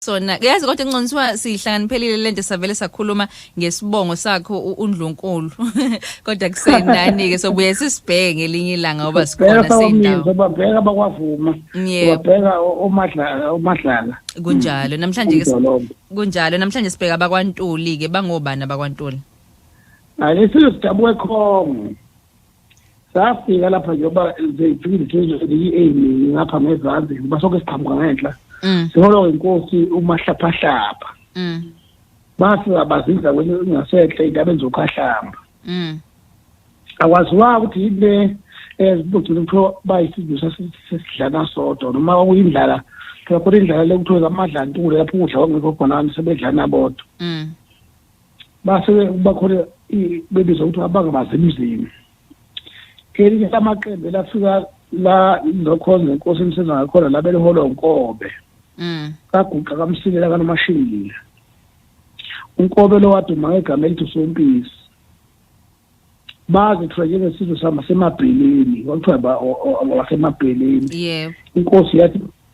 sona yazi kodwa inconsiwa sihlangani lento savele sakhuluma ngesibongo sakho undlunkulu kodwa kusendani ke sobuye sisibheke ngelinye ilanga ngoba sikhona seyindawo sobabheka bakwavuma babheka omadlala omadlala kunjalo namhlanje ke kunjalo namhlanje sibheka abakwantuli ke bangobani abakwantuli ake sidabuke khongo safika lapha njengoba ziyi-a ningi ngapha ngezazi ngoba sonke siqhamuka ngenhla mm. siholo inkosi umahlaphahlapha mm. bafika bazinza kwenye ingasenhle indabeni zokhahlamba mm. akwaziwanga ukuthi yini le ezibugcina eh, kuthiwa bayisizwe sesidlana sodwa noma kwakuyindlala phela khona indlala le kuthiwa zamadlantule lapho ukudla kwakungekho khona sebedlana bodwa base bakhona bebizwa ukuthi abangabazi emzini elinye lamaqembu elafika la lokhonza inkosi emsenza ngakhona la beliholwa unkobe mm. kaguqa kamsilela kanomashile unkobe lo waduma ngegama elithi usompisi baze kuthiwa njengesizwe sama semabheleni kwakuthiwa wasemabheleni yebo inkosi yathi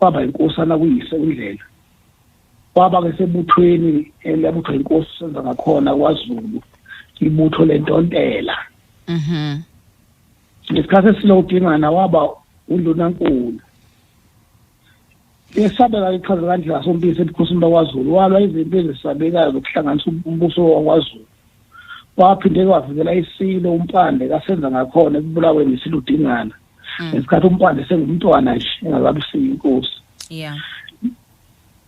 waba yinkosana kuyise uNdlela waba-ke sebuthweni eliyabuthwa inkosi senza ngakhona kwazulu ibutho lentontela mhm ngesikhathi esilo udingana waba undunankulu esabeka ichaza kandlela sompisi ebukhosini bakwazulu walwa izinto ezisabekayo zokuhlanganisa umbuso wakwazulu waphinde kwavikela isilo umpande kasenza ngakhona ekubulaweni isiludingana Mm. ngesikhathi umpande sengumntwana nje engakabisiyi inkosi yeah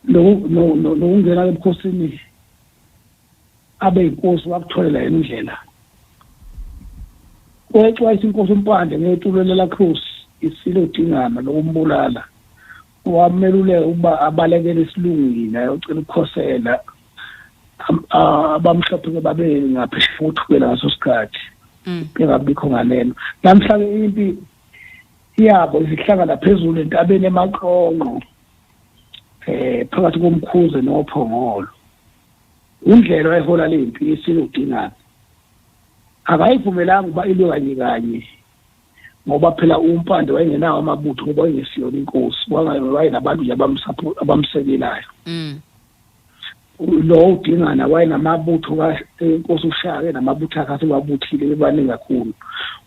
nokungena ebukhosini abe inkosi wakutholela yena indlela kwexwayisa inkosi umpande ngetulo lelakhosi isilo dingana lokumbulala wameluleka ukuba abalekele isilungwini ayocela ukukhosela abamhlophe ke babe ngaphesheya kothukela ngaso sikhathi mm. bengabikho ngalelo namhlanje impi yabo izihlangana phezulu entabeni emaqonqo eh phakathi komkhuze nophongolo indlela ehola lempi isiludingana akayivumelanga uba ilwe kanye kanye ngoba phela umpande wayengenawo amabutho ngoba wayengesiyona inkosi wayengabantu nje abamsekelayo mm. lo udingana wayenamabutho kaNkosi uShaka namabutho akhe asewabuthile bebaningi kakhulu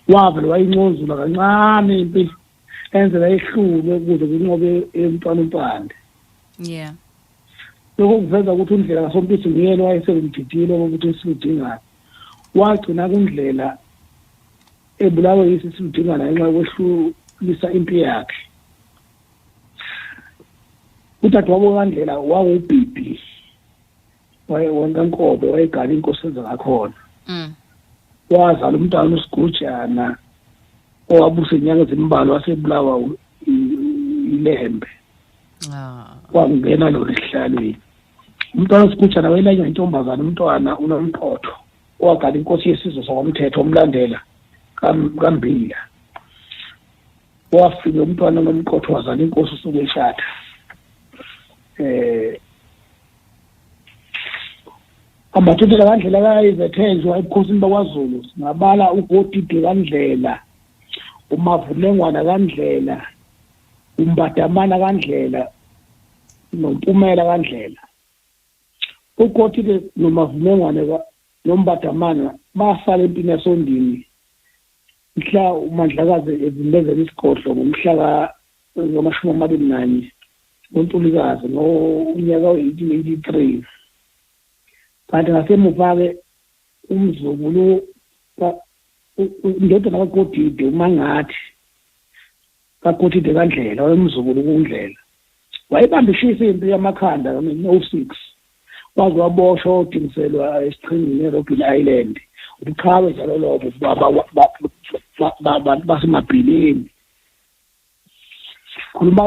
wavele wayincozula kancane impi enzela ehlulwe ukuze kunqobe umntwana umpande yeah lokho kuveza ukuthi undlela kasompisi nguyena wayesengumdidile wokuthi isiludingana wagcina kundlela ebulawe yisi siludingana ngenxa yokwehlulisa impi yakhe udadewabo kaNdlela wawubhibhi wayenkankobe wayegala inkosi enza ngakhona mm. wazala umntwana usigujana owabusa inyanga ezimbalwa wasebulawa ilembe ah. wangena lona esihlalweni umntwana usigujana wayelanywa intombazana umntwana unomqotho owagala inkosi yesizwe sakwamthetho omlandela kambila wafika umntwana nomqotho wazala inkosi usuke eshada eh amathuthela kandlela kayizethezwa ebukhosini bakwaZulu singabala uGodide kandlela umavulengwana kandlela umbadamana kandlela nompumela kandlela uGodide nomavulengwana nombadamana basala empini yasondini mhla uMandlakazi evimbezela isigodlo ngomhla ngamashumi amabili nanye ngoNtulikazi ngonyaka we-eighteen eighty three kanti ngasemuva-ke umzukulu indodana kagodide umangathi Kakhothi de kaNdlela, wayemzukulu kuNdlela. Wayebamba ishisa impi yamakhanda ngo-1906, waze waboshwa wodingiselwa esiqhingini eRobben Island. Ubuqhawe njalo lobo bantu basemabhilini. Khuluma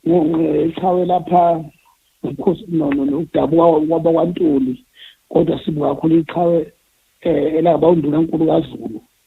ngeqhawe lapha ngokhosi no no nokudabuka kwaba kwaNtuli kodwa sibuka kakhulu iqhawe eh, elaba uNdunankulu kaZulu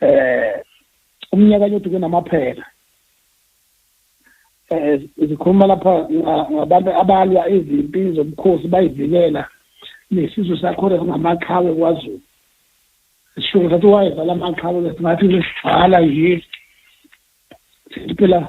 eh umnyaka nyothi kunamaphela eh sikhuluma lapha ngabantu abalwa izimpi zobukhosi bayivikela nesizwe sakhona singamaqhawe kwaZulu sisho ukuthi wayezala amaqhawe singathi ngisijala yini siphela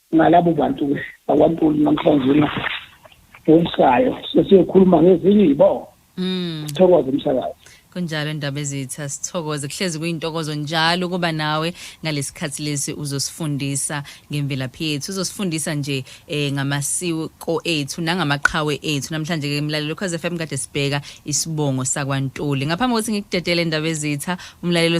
ngalabo bantu-ke bakwaNtuli namhlanje na ngokusayo sesiyokhuluma ngezinye iy'bongo Mm. sithokoze umsakazi kunjalo ndaba ezitha sithokoze kuhlezi kuyintokozo njalo ukuba nawe ngalesikhathi lesi uzosifundisa ngemvelaphi yethu uzosifundisa nje eh ngamasiko ethu nangamaqhawe ethu namhlanje ke mlalelo cause FM kade sibheka isibongo sakwantuli ngaphambi kokuthi ngikudedele ndaba ezitha umlalelo